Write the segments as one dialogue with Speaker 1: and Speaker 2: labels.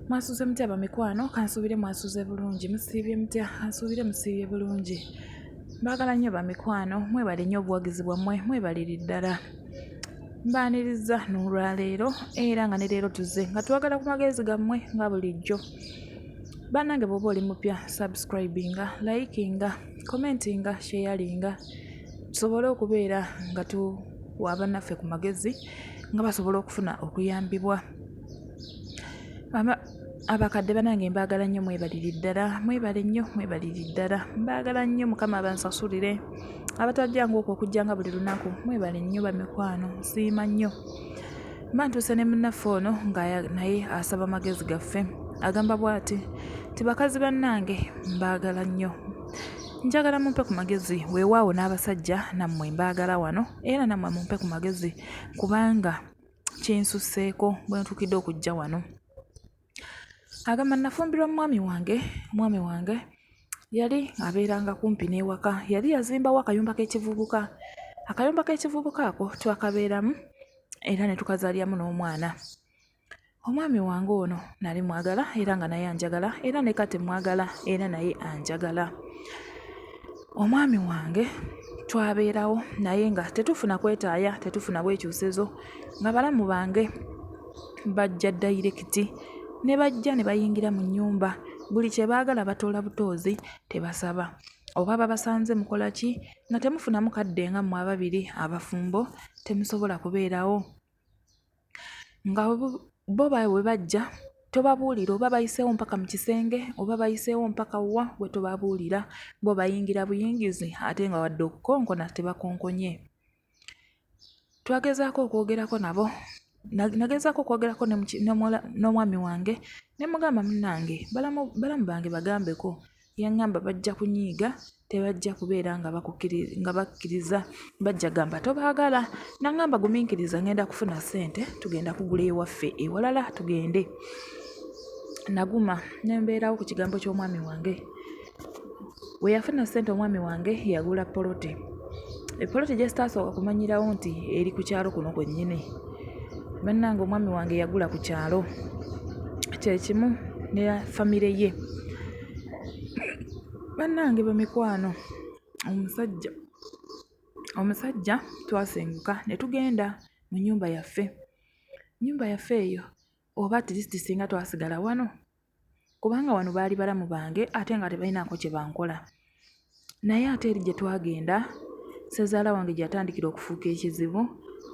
Speaker 1: mwasuze mutya abamikwano kansuubire mwasuze bulungi musiibye mutya kansuubire musiibye bulungi mbaagala nnyo bamikwano mwebale nnyo obuwagizi bwammwe mwebaliri ddala mbaaniriza n'olwaleero era nga ne leero tuze nga twagala ku magezi gammwe nga bulijjo bannange bwoba oli mupya subscribinga likinga commentinga sheyalinga tusobole okubeera nga tuwa bannaffe ku magezi nga basobola okufuna okuyambibwa abakadde banange mbagala nnyo mwebaliri ddala mwebale nnyo mwebaliri ddala mbagala nnyo mukama abansasulire abatajjangu okwo okujjanga buli lunaku mwebale nnyo bamikwano nsiima nnyo mba ntuuse ne munnaffe ono nga naye asaba magezi gaffe agamba bwati ti bakazi bannange mbagala nnyo njagala mumpe ku magezi weewaawo n'abasajja nammwe mbaagala wano era nammwe mumpe ku magezi kubanga kinsusseeko bwe ntuukidde okujja wano agamba nafumbirwa mumwami wange omwami wange yali abeeranga kumpi n'ewaka yali yazimbawo akayumba k'ekivubuka akayumba k'ekivubuka ako twakabeeramu era ne tukazaalyamu n'omwana omwami wange ono nali mwagala era nga naye anjagala era ne kati mwagala era naye anjagala omwami wange twabeerawo naye nga tetufuna kwetaaya tetufuna bwekyusezo nga balamu bange bajja dayirekiti ne bajja ne bayingira mu nnyumba buli kye baagala batoola butoozi tebasaba oba babasanze mukola ki nga temufunamu kadde nga mmwe ababiri abafumbo temusobola kubeerawo nga bo bwe bajja tobabuulira oba bayiseewo mpaka mu kisenge oba bayiseewo mpaka wa gwe tobabuulira bo bayingira buyingizi ate nga wadde okukonkona tebakonkonye twagezaako okwogerako nabo nagezaako okwogerako n'omwami wange ne mugamba munnange balamu bange bagambeko Yangamba bajja kunyiiga tebajja kubeera nga nga bakkiriza bajja gamba tobaagala nangamba guminkiriza ngenda kufuna ssente tugenda kugula ewaffe ewalala tugende naguma nembeerawo ku kigambo ky'omwami wange we yafuna ssente omwami wange yagula poloti epoloti gyesitaasooka kumanyirawo nti eri ku kyalo kuno kwennyini bannange omwami wange yagula ku kyalo kyekimu ne famire ye bannange bemikwano omusajja omusajja twasenguka ne tugenda mu nyumba yaffe nyumba yaffe eyo oba atleast singa twasigala wano kubanga wano baali balamu bange ate nga tebalinaako kye bankola naye ate eri gye twagenda ssezaala wange gye yatandikira okufuuka ekizibu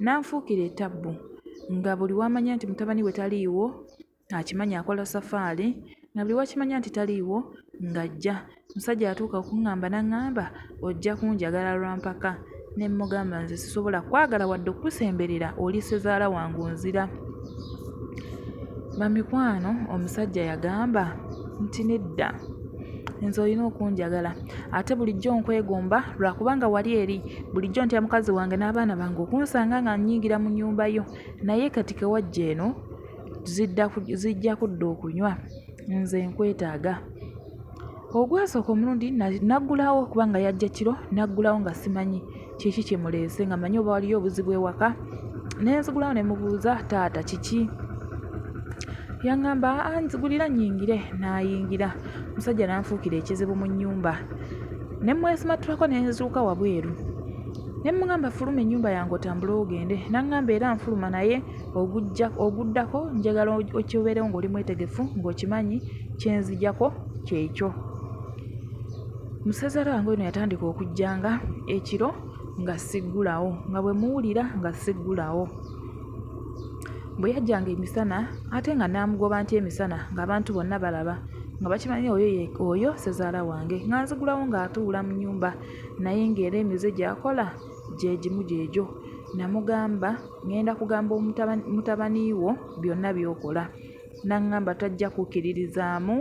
Speaker 1: n'anfuukira etabbu nga buli wamanya nti mutabani we taliiwo akimanya akola safaali nga buli wakimanya nti taliiwo ng'ajja Omusajja yatuuka okuŋŋamba n'aŋŋamba ojja kunjagala lwa mpaka ne mmugamba nze sisobola kwagala wadde okukusemberera oli ssezaala wange onzira. Bamikwano omusajja yagamba nti nedda nze olina okunjagala ate bulijjo nkwegomba lwakubanga wali eri bulijjo ntya mukazi wange n'abaana bange okunsanga nga nnyingira mu nnyumba yo naye kati kewajja eno zijja kudda okunywa nze nkwetaaga Ogwasooka omulundi naggulawo kubanga yajja kiro naggulawo nga simanyi kiki kimuleese nga mmanyi oba waliyo obuzibu ewaka ne nzigulawo ne mubuuza taata kiki yaŋŋamba aa nzigulira nnyingire nayingira omusajja n'anfuukira ekizibu mu nnyumba ne mmwesimattulako ne nzuuka wabweru ne mmugamba fuluma ennyumba yange otambule ogende n'aŋŋamba era nfuluma naye ogujja oguddako njagala okibeerewo ng'oli mwetegefu ng'okimanyi kyenzijako kyekyo musaza lwange eno yatandika okujjanga ekiro nga siggulawo nga bwe muwulira nga siggulawo bwe yajjanga emisana ate nga naamugoba nti emisana ng'abantu bonna balaba nga bakimanyi oyo oyo sezaala wange nga nzigulawo ng'atuula mu nyumba naye ng'era emize gyakola gye gimu gyegyo. Nnamugamba ŋŋenda kugamba mutabani wo byonna by'okola. N'aŋŋamba tajja kukkiririzaamu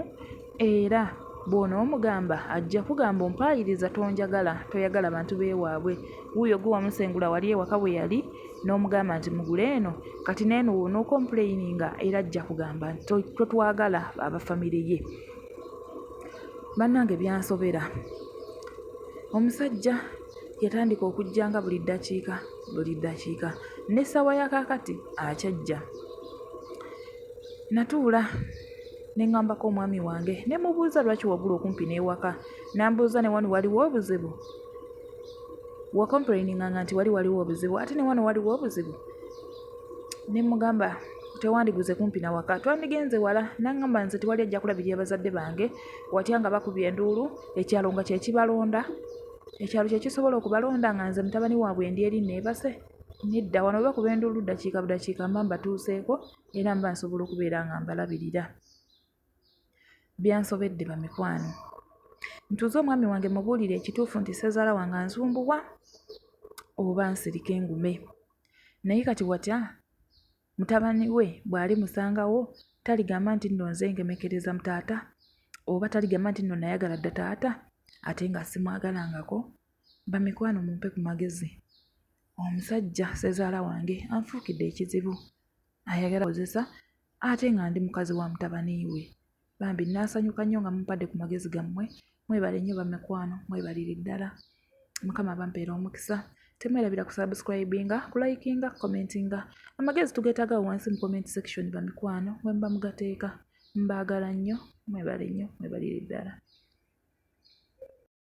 Speaker 1: era bw'onoomugamba ajja kukugamba ompaayiriza tonjagala, toyagala bantu b'ewaabwe. Wuuyo gwe wamusengula wali ewaka we yali n'omugamba nti mugule eno, kati n'eno w'onookompuleyininga era ajja kugamba nti totwagala aba famire ye. Bannange byansobera! Omusajja. Yatandika okujja nga buli ddakiika buli ddakiika, n'essaawa ya kaakati akyajja. Natuula ne ŋŋambako omwami wange ne mubuuza lwaki wagula okumpi n'ewaka, n'ambuuza ne wano waliwo obuzibu? Wakompulayininganga nti wali waliwo obuzibu ate ne wano waliwo obuzibu? Ne mmugamba tewandiguze kumpi na waka twandigenze wala n'aŋŋamba nze tewali ajja kulabirira bazadde bange watya nga bakubye enduulu ekyalo nga kye kibalonda. ekyalo kye kisobola okubalonda nga nze mutabani waabwe endi eri neebase nedda wano oba kuba enduulu ddakiika budakiika mba mbatuuseeko era mba nsobola okubeera nga mbalabirira byansobedde bamikwano ntuuze omwami wange mubuulire ekituufu nti sezaala wange anzumbuwa oba nsirike engume naye kati watya Mutabani we bw'alimusangawo, taligamba nti nno nze ngemekereza mu taata, oba taligamba nti nno nayagala dda taata ate nga simwagalangako. Bamikwano mumpe ku magezi, omusajja ssezaala wange anfuukidde ekizibu, ayagala kozesa ate nga ndi mukazi wa mutabani we. Bambi nasanyuka nnyo nga mumpadde ku magezi gammwe mwebale nnyo bamikwano mwebalire ddala mukama abampeera omukisa temwerabira ku subscribinga kulayikinga commentinga amagezi tugeetaaga wansi mu comment section bamikwano wemuba mugateeka mbaagala nnyo mwebale nnyo mwebalire ddala